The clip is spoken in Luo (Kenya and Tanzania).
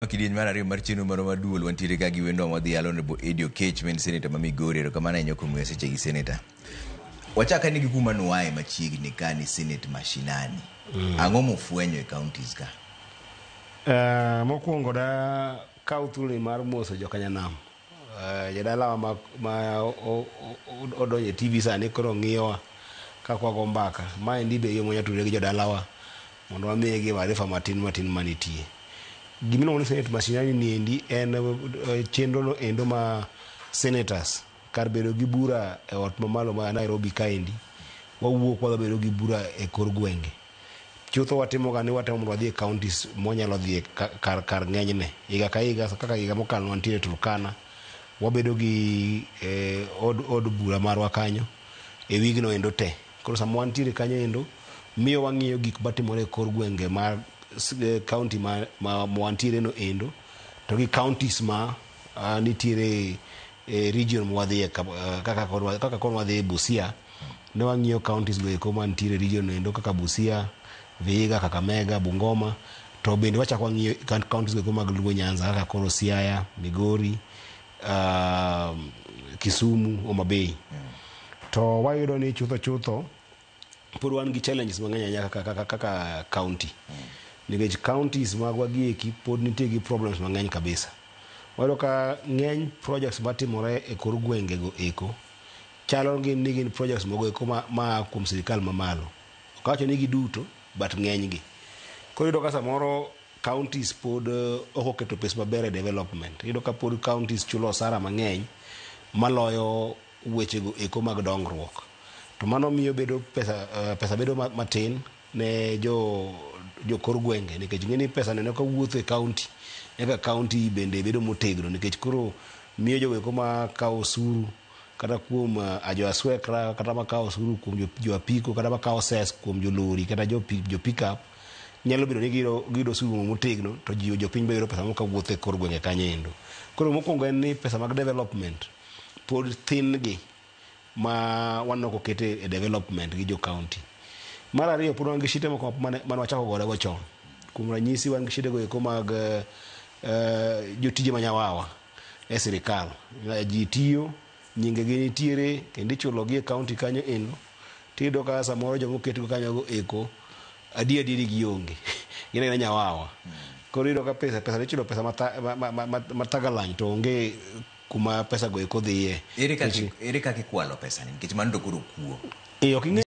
Kidieny mar ariyo mar chenro moro mar duol wantiere ka gi wendwa mwadhi yalo nebo Eddie Okech ma en seneta ma Migori erokamano ahinya kuom miyo seche gi seneta. Wachak ane gi kuma nuaye machiegni ka ni senate mashinani. Ang'o mufwenyo e counties ka? Eh, mokwongo da kaw thuoloni mar moso jokanyanam Eh, jadalawa ma, ma o, o, odonjo e TV sani koro ng'iyowa ka kwago mbaka. Ma endi be yo mwanya tudore gi jodalawa mondo wamiye gi maarifa matin matin manitie. Gima iluongo ni Senate mashinani ni endi en eh, chenro no endo ma senators kar bedo gi bura e ot mamalo ma Nairobi kaendi wawuok wadhi bedo gi bura e kor gwenge. Chutho watimoga ni watemo mondo wadhi e counties mwanyalo dhie kar, kar ng'enyne. Higa ka higa, kaka higa mokalo wantiere Turkana, wabedo gi eh, od, od bura marwa kanyo e wigno endo te. Koro sama wantiere kanyo endo, miyo wang'iyo gik matimore e kor gwenge ma s- eh, county ma, ma, ma wantiere no endo, to gi counties ma uh, nitiere e region mwadhiye kaka koro kaka koro wadhi e Busia Ne wang'iyo counties go eko mantiere e region no endo kaka Busia, Vihiga, Kakamega, Bungoma to bende wachak wang'iyo coun- counties go eko mag Luo Nyanza kaka koro Siaya, Migori, ah, Kisumu, Homa Bay. To wayudo ni chutho chutho pod wan gi challenges mang'eny ahinya kaka, kaka, kaka county nikech counties magwa gi eki pod nitie gi problems mang'eny kabisa wayudo ka ng'eny projects matimore e kor gwengego eko Chalo gi ni gin projects mogo eko ma, ma a kuom sirikal mamalo. Ok awacho ni giduto, but ng'enygi. Koro iyudo ka samoro counties pod eh, ok oketo pes maber e development. Iyudo ka pod counties chulo osara mang'eny maloyo wechego eko mag dongruok. To mano miyo bedo pesa, eh, pesa bedo ma- matin ne jo jokor gwenge nikech ing'e ni pesa neno ka wuotho e county eka county bende bedo motegno nikech koro miyo jogo eko ma kawo osuru kata kuom uh, jo aswekra kata makawo osuru kuom jo, jo apiko kata makawo ses kuom jolori kata jo, pi- jo pickup nyalo bedo ni giyudo giyudo osuru motegno to ji jopiny be yudo pesa moka wuotho e kor gwenge kanyo endo koro mokwongo en ni pesa mag development pod thin gi ma waneno kokete e development gi jo county mar ariyo pod wan gi shite moko mane mane wachako gorego chon kuom ranyisi wan gi shidego eko mag eh, eh, jotije manyawawa e sirikal. Ji tiyo, nyingegi nitiere kendo ichulogi e kaonti kanyo endo. Tiyudo ka samoro joma oketgo kanyogo eko adier adieri gionge. Gin aena nyawawa. Koro iyudo ka pesa pesa ichulo pesa mathagalany to onge kuma pesago eko dhiye. Ere kaka ikwalo pesani nikech mano to koro kuo. Ee ok ing'e.